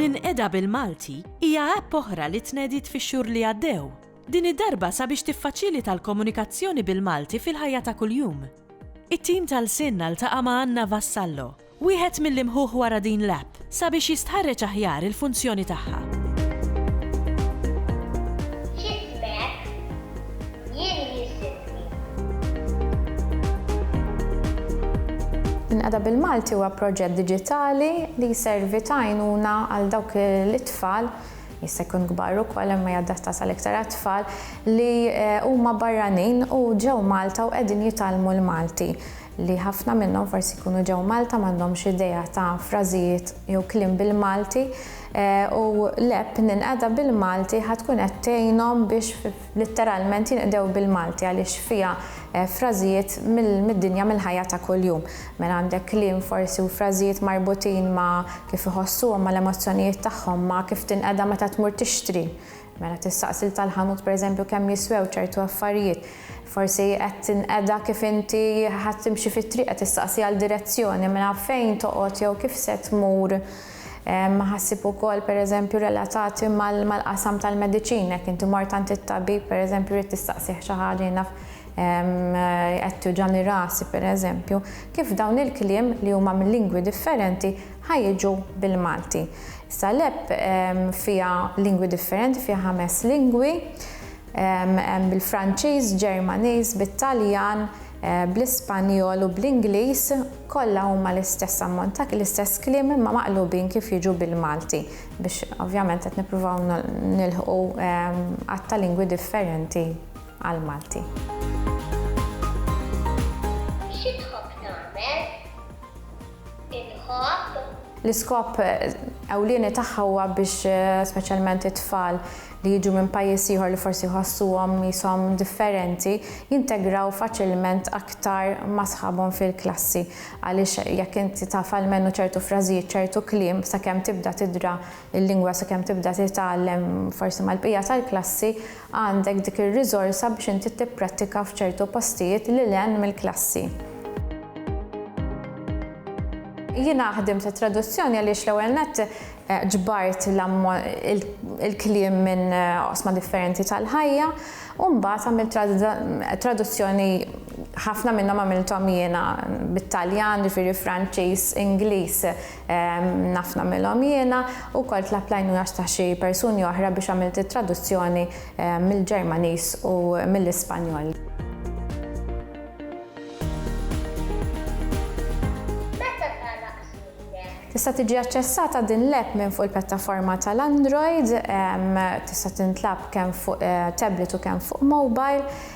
Ninqeda bil-Malti hija app oħra li tnediet fix-xhur li għaddew. Din id-darba sabiex tiffaċilita l-komunikazzjoni bil-Malti fil-ħajja ta' kuljum. It-tim tal-SIN ltaqa' ma' Anna Vassallo, Wieħed mill-imħuħ wara din l-app sabiex jistħarreġ aħjar il-funzjoni tagħha. Ġismek jirrisibni. Inqeda bil-Malti huwa proġett diġitali li jservi ta' għajnuna għal dawk l-itfal, jista' jkun kbar ukoll imma hija adattat għal iktar għat-tfal, li huma barranin u ġew Malta u qegħdin jitgħallmu l-Malti. li ħafna minnhom forsi jkunu ġew Malta m'għandhomx idea ta' frażijiet jew kliem bil-Malti u l-app Ninqeda bil-Malti ħa tkun qed tgħinhom biex litteralment jinqdew bil-Malti għaliex fiha frażijiet mid-dinja mill-ħajja ta' kuljum. Mela għandek kliem forsi u frażijiet marbutin ma' kif iħossuhom, mal-emozzjonijiet tagħhom, ma' kif tinqeda meta tmur tixtri, Mela tistaqsi lil tal-ħanut pereżempju kemm jiswew ċertu affarijiet. Forsi qed tinqeda kif inti ħa timxi fit-triq, qed tistaqsi għal direzzjoni, mela fejn toqgħod jew kif se tmur. Ħassib ukoll pereżempju relatati mal-qasam tal-mediċina, jekk inti mort għand it-tabib pereżempju rrid tistaqsih xi ħaġa jien naf qed tiwġani rasi pereżempju. Kif dawn il-kliem li huma minn lingwi differenti ħa jiġu bil-Malti. Issa l-app fiha lingwi differenti, fiha ħames lingwi, hemm bil-Franċiż, Ġermaniż, bit-Taljan, bl-Ispanjol u bl-Ingliż, kollha huma l-istess ammont ta' l-istess kliem imma maqlubin kif jiġu bil-Malti biex ovvjament qed nippruvaw nilħqu għadd ta' lingwi differenti għall-Malti. inħabb. L-iskop ewlieni tagħha huwa biex speċjalment it-tfal li jiġu minn pajjiż ieħor li forsi jħossuhom qishom differenti jintegraw faċilment aktar ma' sħabhom fil-klassi għaliex jekk inti taf almenu ċertu frażijiet, ċertu kliem sakemm tibda tidra l-lingwa, sakemm tibda titgħallem forsi mal-bqija tal-klassi, għandek dik ir-riżorsa biex inti tipprattika f'ċertu postijiet lil hinn mill-klassi. Jiena ħdimt it-traduzzjoni għaliex l-ewwel nett eh, ġbart il-kliem minn eh, osma differenti tal-ħajja u mbagħad għamilt traduzzjoni ħafna minnhom għamilthom jiena bit-Taljan, ġifieri Franċiż, Ingliż, Naf nagħmilhom jiena. Ukoll tlabt l-għajnuna ta' xi persuni oħra biex għamilt it-traduzzjoni mill-Ġermaniż u mill-Ispanjol. Meta tara qasmietek? Tista' tiġi aċċessata din l-app minn fuq il-pjattaforma tal-Android. Tista' tintlagħab kemm fuq tablet u kemm fuq mobile.